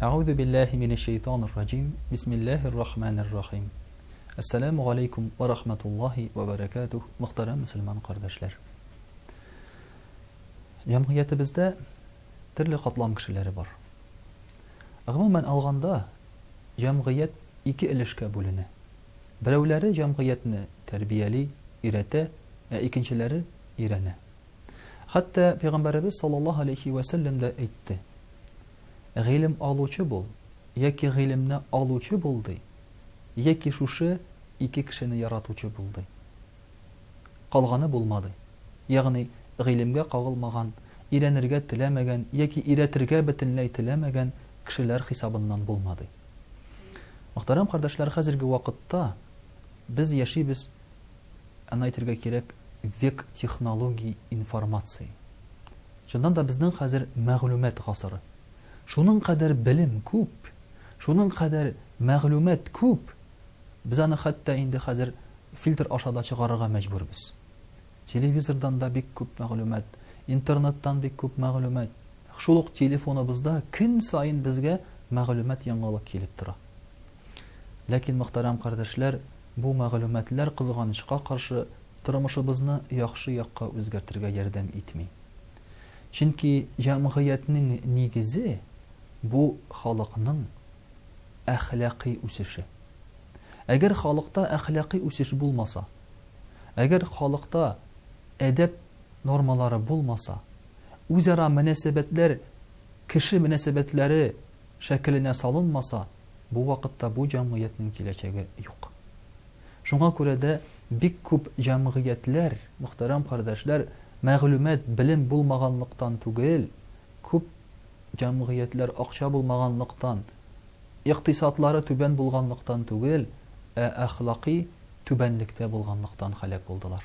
Әгъузу биллаһи минәш шәйтанир раҗим. Бисмиллаһир рахманир рахим. Ассаламу галәйкум ва рахматуллаһи ва баракатуһ, мөхтәрәм мусульман кардәшләр. Җәмгыятебездә төрле катлам кешеләре бар. Гомумән алганда, җәмгыять ике өлешкә бүленә. Берәүләре җәмгыятьне тәрбияли, өйрәтә, ә икенчеләре өйрәнә. Хәтта пәйгамбәребез саллаллаһу алейхи вә сәлләм дә әйтте. Гыйлем алучы бул, яки гыйлемне алучы бул ди, яки шушы ике кешене яратучы бул ди. Калганы булмады. Ягъни гыйлемгә кагылмаган, өйрәнергә теләмәгән яки өйрәтергә бөтенләй теләмәгән кешеләр хисабыннан булмады. Мөхтәрәм кардәшләр, хәзерге вакытта без яшибез аны әйтергә кирәк, век технологий информации. Чыннан да безнең хәзер мәгълүмат гасыры. Шуның кадәр белем күп, шуның кадәр мәгълүмат күп, без аны хәтта инде хәзер фильтр аша да чыгарырга мәҗбүрбез. Телевизордан да бик күп мәгълүмат, интернеттан бик күп мәгълүмат. Шул ук телефоныбызда көн саен безгә мәгълүмат яңалык килеп тора. Ләкин, мөхтәрәм кардәшләр, бу мәгълүматлар, кызганычка каршы, тормышыбызны яхшы якка үзгәртергә ярдәм итми. Чөнки җәмгыятьнең нигезе, бу халыкның әхлакый үсеше. Әгәр халыкта әхлакый үсеш булмаса, әгәр халыкта әдәп нормалары булмаса, үзара мөнәсәбәтләр кеше мөнәсәбәтләре шәкеленә салынмаса, Бу вакытта бу җәмгыятьнең киләчәге юк. Шуңа күрә дә бик күп җәмгыятьләр, мөхтәрәм кардәшләр, мәгълүмат, белем булмаганлыктан түгел, күп җәмгыятьләр акча булмаганлыктан, икътисадлары түбән булганлыктан түгел, ә әхлакый түбәнлектә булганлыктан һәлак булдылар.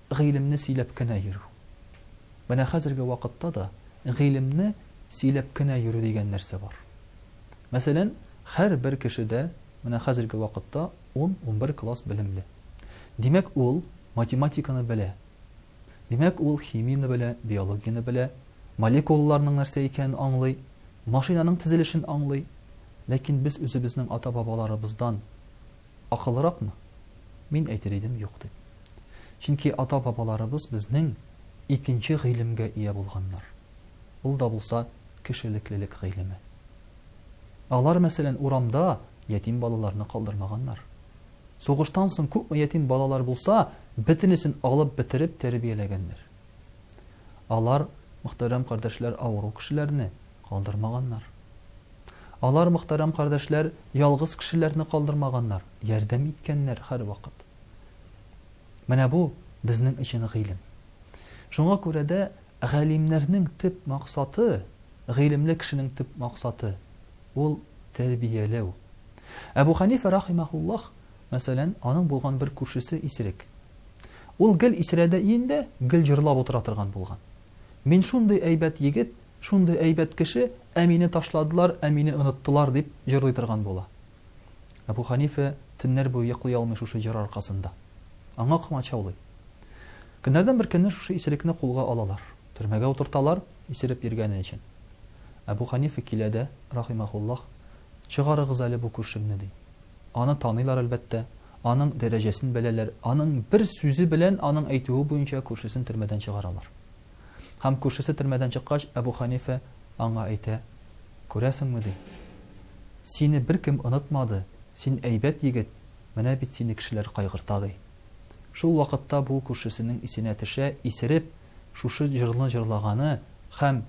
Гыйлемне сөйләп кенә йөрү. Менә хәзерге вакытта да гыйлемне сөйләп кенә йөрү дигән нәрсә бар. Мәсәлән, һәрбер кеше дә менә хәзерге вакытта ун-унбер класс белемле. Димәк, ул математиканы белә. Димәк, ул химияне белә, биологияне белә, молекулаларның нәрсә икәнен аңлый, машинаның тезелешен аңлый. Ләкин без үзебезнең ата-бабаларыбыздан Акыллыракмы? Мин әйтер идем, юк дип. Чөнки ата-бабаларыбыз безнең икенче гыйлемгә ия булганнар. Ул да булса кешелеклелек гыйлеме. Алар, мәсәлән, урамда ятим балаларны калдырмаганнар. Сугыштан соң күпме ятим балалар булса, бөтенесен алып бетереп тәрбияләгәннәр. Алар, мөхтәрәм кардәшләр, авыру кешеләрне калдырмаганнар. Алар, мөхтәрәм кардәшләр, ялгыз кешеләрне калдырмаганнар, ярдәм иткәннәр һәрвакыт. Менә бу безнең өчен гыйлем. Шуңа күрә дә галимнәрнең төп максаты, гыйлемле кешенең төп максаты ул тәрбияләү. Әбу Ханифа рахимахуллаһ Мәсәлән, аның булган бер күршесе исерек. Ул гел исерәдә иендә, гел җырлап утыра торган булган. Мин шундый әйбәт егет, шундый әйбәт кеше, ә мине ташладылар, ә мине оныттылар, дип җырлый торган була. Әбү Хәнифә төннәр буе йоклый алмый шушы җыр аркасында. Аңа комачаулый. Көннәрдән бер көнне шушы исерекне кулга алалар. Төрмәгә утырталар, исереп йөргәне өчен. Әбү Хәнифә килә дә, рахимаһуллаһ, Чыгарыгыз әле бу күршемне, ди. Аны таныйлар, әлбәттә, аның дәрәҗәсен беләләр, аның бер сүзе белән, аның әйтүе буенча, күршесен төрмәдән чыгаралар. Һәм күршесе төрмәдән чыккач, Әбү Хәнифә аңа әйтә, Күрәсеңме, ди, сине беркем онытмады, син әйбәт егет, менә бит сине кешеләр кайгырта, ди. Шул вакытта бу күршесенең исенә төшә, исереп, шушы җырны җырлаганы һәм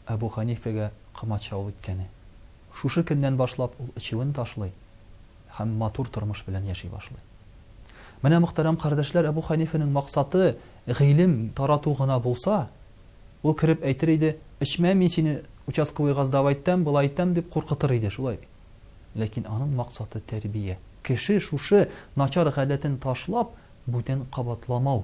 Әбү Хәнифәгә комачаулык иткәне. Шушы көннән башлап ул эчүен ташлый һәм матур тормыш белән яши башлый. Менә, мөхтәрәм кардәшләр, Әбү Хәнифәнең максаты гыйлем тарату гына булса, ул кереп әйтер иде, Эчмә, мин сине участковый газдап әйтәм, болай әйтәм, дип куркытыр иде, шулай бит. Ләкин аның максаты тәрбия. Кеше шушы начар гадәтен ташлап, бүтән кабатламау.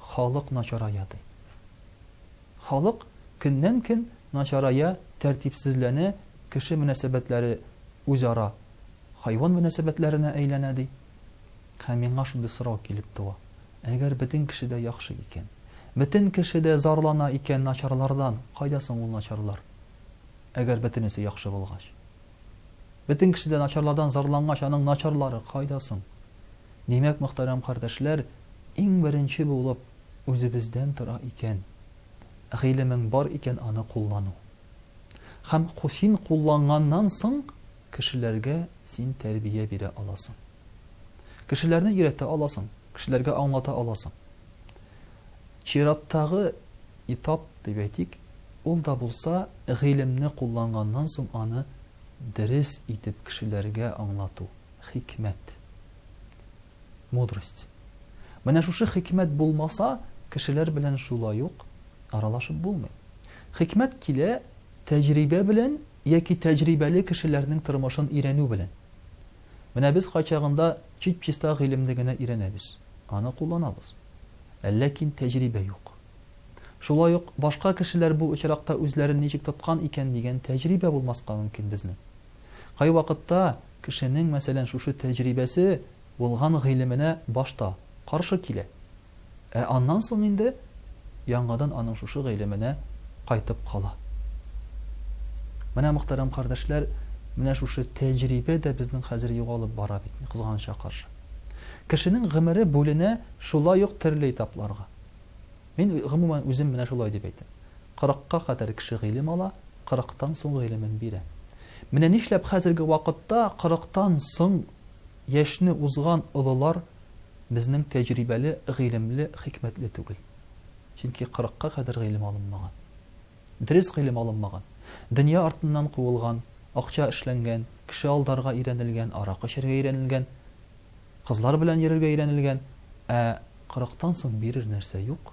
Халык начарая, ди. Халык көннән-көн начарая, тәртипсезләнә, кеше мөнәсәбәтләре үзара хайван мөнәсәбәтләренә әйләнә, ди. Һәм миңа шундый сорау килеп туа, әгәр бөтен кеше дә яхшы икән, бөтен кеше дә зарлана икән начарлардан, кайда соң ул начарлар, әгәр бөтенесе яхшы булгач? Бөтен кеше дә начарлардан зарлангач, аның начарлары кайда соң? Димәк, мөхтәрәм кардәшләр, иң беренче булып үзебездән тора икән, гыйлемең бар икән, аны куллану. Һәм син кулланганнан соң, кешеләргә син тәрбия бирә аласың. Кешеләрне өйрәтә аласың, кешеләргә аңлата аласың. Чираттагы этап, дип әйтик, ул да булса, гыйлемне кулланганнан соң аны дерес итеп кешеләргә аңлату, хикмәт, мудрость. Менә шушы хикмәт булмаса, кешеләр белән шулай ук аралашып булмый. Хикмәт килә тәҗрибә белән яки тәҗрибәле кешеләрнең тормышын өйрәнү белән. Менә без кайчагында чип-чиста гыйлемне генә өйрәнәбез, аны кулланабыз. Ләкин тәҗрибә юк. Шулай ук башка кешеләр бу очракта үзләрен ничек тоткан икән дигән тәҗрибә булмаска мөмкин безнең. Кайвакытта кешенең, мәсәлән, шушы тәҗрибәсе булган гыйлеменә башта каршы килә. Ә аннан соң инде яңадан аның шушы гыйлеменә кайтып кала. Менә, мөхтәрәм кардәшләр, менә шушы тәҗрибә дә безнең хәзер югалып бара бит, кызганычка каршы. Кешенең гомере бүленә шулай ук төрле этапларга. Мин, гомумән, үзем менә шулай дип әйтәм. Кырыкка кадәр кеше гыйлем ала, кырыктан соң гыйлемен бирә. Менә нишләп хәзерге вакытта кырыктан соң яшьне узган олылар безнең тәҗрибәле, гыйлемле, хикмәтле түгел? Чөнки кырыкка кадәр гыйлем алынмаган. Дөрес гыйлем алынмаган. Дөнья артыннан куылган, акча эшләнгән, кеше алдарга өйрәнелгән, аракы эчәргә өйрәнелгән. Кызлар белән йөрергә өйрәнелгән, ә кырыктан соң бирер нәрсә юк.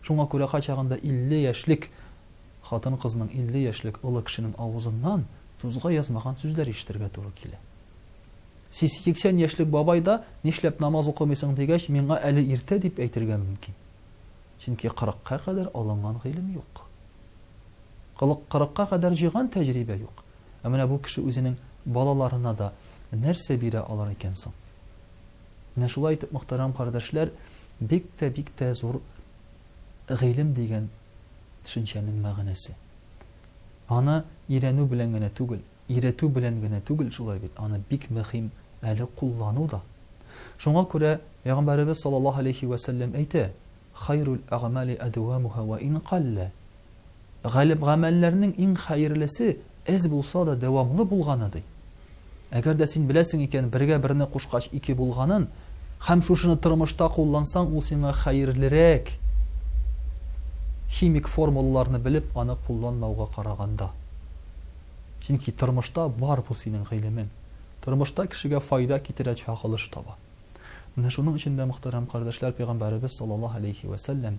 Шуңа күрә кайчагында 50 яшьлек хатын-кызның 50 яшьлек олы кешенең авызыннан тузга язмаган сүзләр ишетергә туры килә. Сиси 80 яшьлек бабай да, нишләп намаз укымыйсың дигәч, миңа әле иртә дип әйтергә мөмкин. Чөнки 40-ка кадәр алынган гыйлем юк. 40-ка кадәр җыйган тәҗрибә юк. Ә менә бу кеше үзенең балаларына да нәрсә бирә алыр икән соң? Менә шулай итеп, мөхтәрәм кардәшләр, бик тә бик тә зур гыйлем дигән төшенчәнең мәгънәсе. Аны өйрәнү белән генә түгел, өйрәтү белән генә түгел шулай бит, аны бик мөһим әле куллану да. Шуңа күрә Пәйгамбәребез саллаллаһу алейхи вә сәлләм әйтә: "Хайрул әгъмали адвамуха ва ин калла". Галеп-гамәлләрнең иң хәерлесе әз булса да дәвамлы булганы, ди. Әгәр дә син беләсең икән, бергә берне кушкач ике булганын, һәм шушыны тормышта куллансаң, ул сиңа хәерлерәк, химик формулаларны белеп, аны кулланмауга караганда. Чөнки тормышта бар бу синең гыйлемең. Тормышта кешегә файда китерә чагылыш таба. Менә шуның өчен дә, мөхтәрәм кардәшләр, пәйгамбәребез саллаллаһу алейһи вә сәлләм